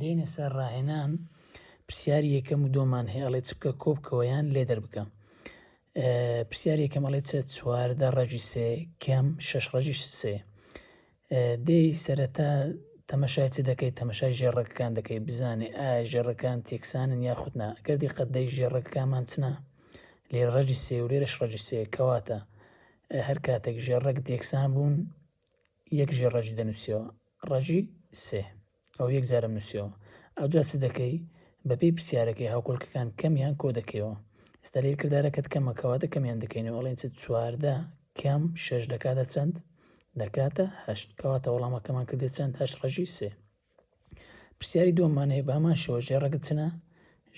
دێنە سەر ڕاهێنان پرسیاری یەکەم و دۆمان هەیە ئەڵێ چ بکە کۆ بکەوە یان لێ دەربکە پرسیاری یەکەم ئەڵێ چە چواردە ڕەجی سێ کەم شەش ڕەجی سێ دەی سەرەتا تەمەشای چ دەکەیت تەمەشای ژێڕەکەکان دەکەی بزانێ ئایا ژێڕەکان تێکسانن یا خودنا گەر دیقەت دەی ژێڕەکەکانمان چنە لێ ڕەجی سێ و لێرەش ڕەجی سێ کەواتە هەر کاتێک ژێڕەک دێکسان بوون یەک ژێر ڕەجی دەنووسیەوە ڕەجی سێ ئەو یەک جارم نووسیەوە ئەوجا چ دەکەی بەپێی پرسیارەکەی هاوکۆلکەکان کەمیان کۆ دەکەیەوە ئێستا لێ کردارەکەت کەمە کەواتە کەمیان دەکەینەوە ئەڵێن چ چواردە کەم شەش دەکاتە چەند دەکاتە هەشت کەواتە وەڵامەکەمان کردێت چەند هەش ڕەژی سێ پرسیاری دووەمان هەیە بامان شەوە ژێڕەگت چنە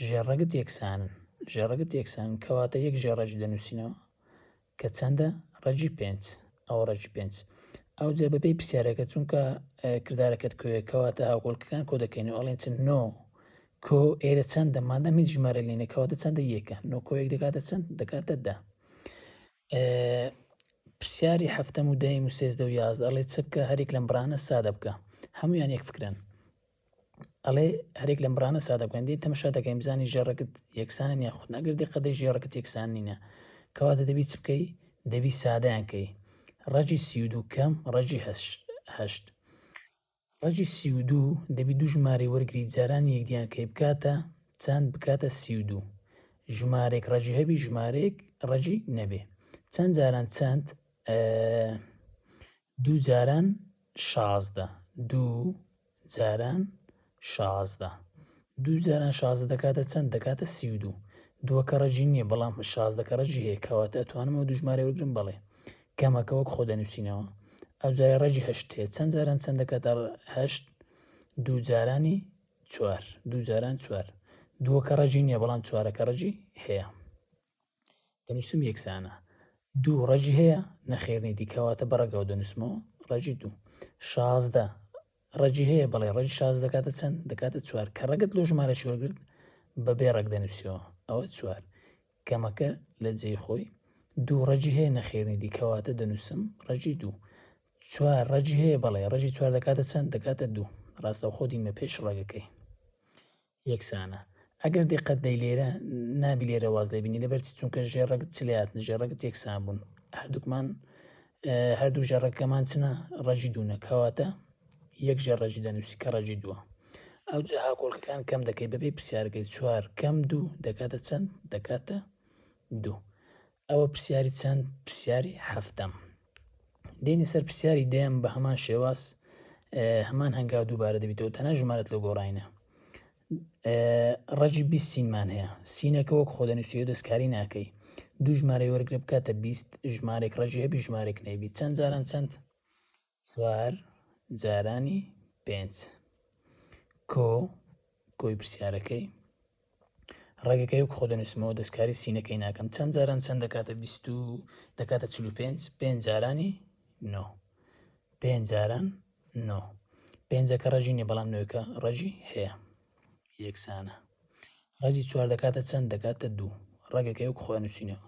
ژێڕەگت یەکسانن ژێڕەگت یەکسان کەواتە یەک ژێڕەج دەنووسینەوە کە چەندە؟ ڕەگی پێنج. ئەوە ڕەگی پێنج. ئەوجا بەپێی پرسیارەکە چونکە کردارەکەت کۆیە کەواتە هاوکۆڵکەکان کۆ دەکەین و ئەڵێن چەند نۆ کۆ ئێرە چەندە مادەم هیچ ژمارە لێ نەکەواتە چەندە یەکە نۆ کۆ یەک دەکاتە چەند دەکاتە دە پرسیاری هەفتەم و دەیم و سێزدە و یازدە ئەڵێ چ بکە هەرێک لەم بڕانە سادە بکە هەمویان یەک فکرن ئەڵێ هەرێک لەم بڕانە سادەکەندی تەمەشا دەکەین بزانانی ژێڕەکت یەکسانن یا خود نەگردی قەدەی ژێڕەکت یەکسان نینە کەواتە دەبی چ بکەی دەبی سادەیانکەی ڕەجی سی و دوو کەم ڕەجی هەشت ڕەجی سی و دوو دەبی دوو ژمارەی وەرگری جارانی یەکدیانکەی بکاتە چەند بکاتە سی و دوو ژمارێک ڕەجی هەبی ژمارێک ڕەجی نەبێ چەند جاران چەند دوو جاران شازدە دوو جاران شازدە. دوو جاران شازدە دەکاتە چەند؟ دەکاتە سی و دوو. دووە کەڕەجی نییە، بەڵام شازدە کەڕەجی هەیە، کەواتە ئەتوانم ئەو دوو ژمارەیە وەرگرم؟ بەڵێ. کەمەکە وەک خۆ دەنووسینەوە. ئەو جارە ڕەجی هەشت هەیە. چەند جاران چەند دەکاتە هەشت؟ دوو جارانی چوار. دوو جاران چوار. دووە کەڕەجی نییە، بەڵام چوارە کەڕەجی هەیە. دەنووسم یەکسانە. دوو ڕەجی هەیە؟ نەخێر نەیدی کەواتە بە ڕەگەوە دەنووسمەوە ڕەجی دوو. شازدە ڕەجی هەیە؟ بەڵێ ڕەجی شازدە دەکاتە چەند؟ دەکاتە چوار کە ڕەگت لۆ ژمارەکی وەرگرت بە بێ ڕەگ دەنووسیەوە ئەوە چوار کەمەکە لە جێی خۆی دوو ڕەجی هەیە نەخێر نەیدی کەواتە دەنووسم ڕەجی دوو. چوار ڕەجی هەیە؟ بەڵێ ڕەجی چوار دەکاتە چەند؟ دەکاتە دوو ڕاستەوخۆ دینمە پێش ڕەگەکەی. یەکسانە ئەگەر دیقەت دەی لێرە نابی لێرە واز لێ بینی لەبەر چی چونکە ژێڕەگت چ لێ هاتن ژێڕەگت یەکسان بوون هەردووکمان هەردوو ژێڕەکەمان چنە ڕەجی دوونە کەواتە یەک ژێ ڕەجی دەنووسی کە ڕەجی دووە ئەو جا هاکۆڵکەکان کەم دەکەی بەبێ پرسیارەکەی چوار کەم دوو دەکاتە چەند دەکاتە دوو ئەوە پرسیاری چەند؟ پرسیاری حەفتەم. دێنی سەر پرسیاری دەیەم بە هەمان شێواز هەمان هەنگاو دووبارە دەبیتەوە تەنە ژمارەت لە گۆڕینە ڕەجی بی سینمان هەیە سینەکە وەک خۆدەنووسیە دەستکاری ناکەی دوو ژمارەی وەرگرە بکاتە بیست ژمارێک ڕێژی هەبی ژمارێک نەبی چەند جاران چەند چوار جارانی پێنج کۆ کۆی پرسیارەکەی ڕێگەکە یوک خۆ دەنووسمەوە دەستکاری سینەکەی ناکەم چەند جاران چەند دەکاتە بیست و دەکاتە چلو پێنج پێنج جارانی نۆ پێنج جاران نۆ پێنجەکە ڕژی نیە بەڵام نوێکە ڕژی هەیە یەکسانە ڕژی چوار دەکاتە چەند دەکاتە دوو ڕێگەکە یوک خۆ نووسینەوە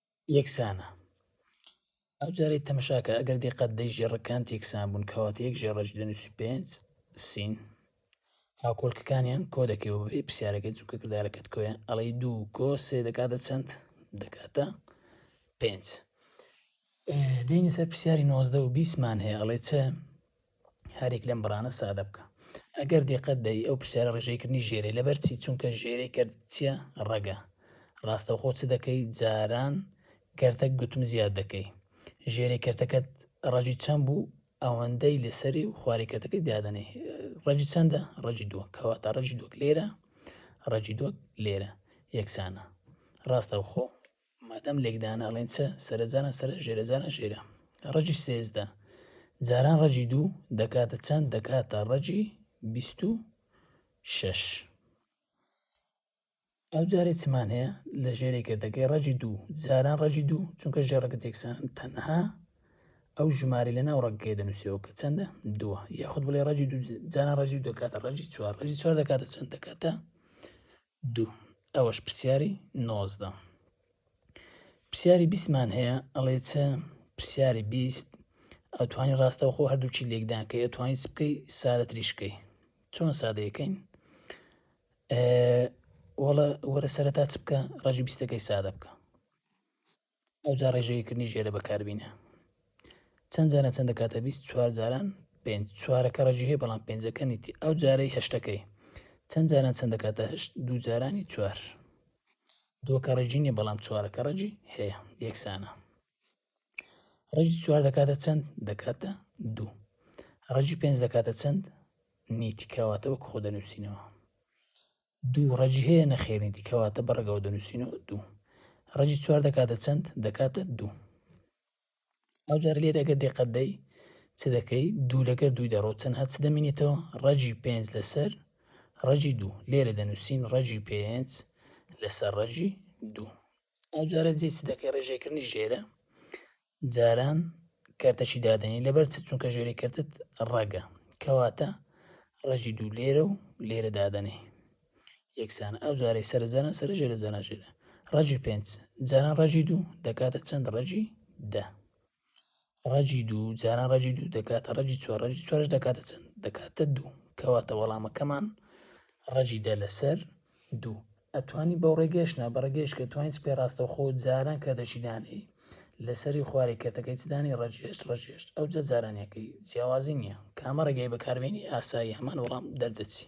یەکسانە ئەو جارەی تەمەشاکە ئەگەر دقەت دەی ژێڕەکان تێکسان بوون کەواتە یەک ژێڕە پێنج سین هاوکۆلکەکانیان کۆ دەکەی و بێ پرسیارەکەی چونکە کردارەکەت کۆیە ئەڵی دوو کۆ سێ دەکاتە چەند دەکاتە پێنج دێنی سەر پرسیاری نۆزدە و بیسمان هەیە ئەڵێ چە هەریک لەم بڕانە سادە بکە ئەگەر دقت دەری ئەو پرسیارە ڕێژەیکردنی ژێرەی لەبەر چی چونکە ژێرەی کرد چیە ڕەگە ڕاستەوخۆ چ دەکەی جاران کەرتە گوتم زیاد دەکەی ژێری کەرتەکەت ڕەجی چەند بوو ئەوەندەی لەسەری و خوارێ کەرتەکەی دادەنێ ڕەجی چەندە ڕەجی دووە کەوا تا ڕەجی دووک لێرە ڕەجی دووک لێرە یەکسانە ڕاستەوخۆ مادام لێکدانە ئەڵێن چە سەرە جاران سەرە ژێرە جاران ژێرە ڕەجی سێزدە جاران ڕەجی دوو دەکاتە چەند دەکاتە ڕەجی بیست و شەش ئەو جارێ چمان هەیە لە ژێرێک کردەکەی ڕەجی دوو جاران ڕەجی دوو چونکە ژێڕەکە تێکسان تەنها ئەو ژماری لە ناو ڕەگەکەی دەنووسەوە کە چەندە دووە یاخود بڵێ ڕەجی دوو جاران ڕەجی دەکاتە ڕەجی چوار ڕەجی چوار دەکاتە چەند دەکاتە دوو ئەوەش پرسیاری نۆزدە. پرسیاری بیستمان هەیە ئەڵێ چ پرسیاری بیست ئەتوانی ڕاستەوخۆ هەردووچی لێکدانکەی ئەتوانی چ بکەی سادە تریشکەی چۆن سادەیەکەین وەڵە وەرە سەرەتا چ بکە ڕژی بیستەکەی سادە بکە ئەوجا ڕێژەیی کردنیش ئێرە بەکاربینە چەند جارە چەند دەکاتە بیست چوار جاران پێنج چوارەکە ڕێژی هەیە بەڵام پێنجەکە نیتی ئەو جارەی هەشتەکەی چەند جاران چەند دەکاتە هەشت دوو جارانی چوار دووەکە ڕێژی نیە بەڵام چوارەکە ڕێژی هەیە یەکسانە ڕێژی چوار دەکاتە چەند دەکاتە دوو ڕێژی پێنج دەکاتە چەند نیتی کەواتە وەک خۆ دەنووسینەوە دوو ڕەجی هەیە نەخێرێتی کەواتە بە ڕەگەوە دەنووسینەوە دوو ڕەجی چوار دەکاتە چەند دەکاتە دوو ئەوجار لێرەگە دێقەدەی چ دەکەی دوو لەگەر دووی دەڕۆ چەند هەچ دەمینێتەوە ڕەجی پێنج لەسەر ڕەجی دوو لێرە دەنووسین ڕەجی پێنج لەسەر ڕەجی دوو ئەوجارە جێ چ دەکەی ڕێژێکردنی ژێرە جاران کەرتەشی دادەنی لەبەر چ چونکە ژێری کەرتت ڕەگە کەواتە ڕژی دوو لێرە و لێرە دادەنێ یەکسانە ئەو جارەی سەرزانە سەر ژێرە زانە ژێرە ڕژی پێنج جاران ڕژی دوو دەکاتە چەند ڕژی دە ڕژی دوو جاران ڕژی دوو دەکاتە ڕژی چوار ڕژی چوارش دەکاتە چەند دەکاتە دوو کەواتە وەڵامەکەمان ڕژی دە لەسەر دوو ئەتوانی بەو ڕێگەش نا بەڕێگەش کە توانین سپێ ڕاستەوخۆ جاران کە دەچی دانێی لەسەری خوارێ کەتەکەی چدانی ڕەجێش ڕەجێش ئەو جە جارانەکەی جیاوازی نییە کامە ڕێگەی بەکاربیێنی ئاسایی هەمان وەڵام دەردەچی.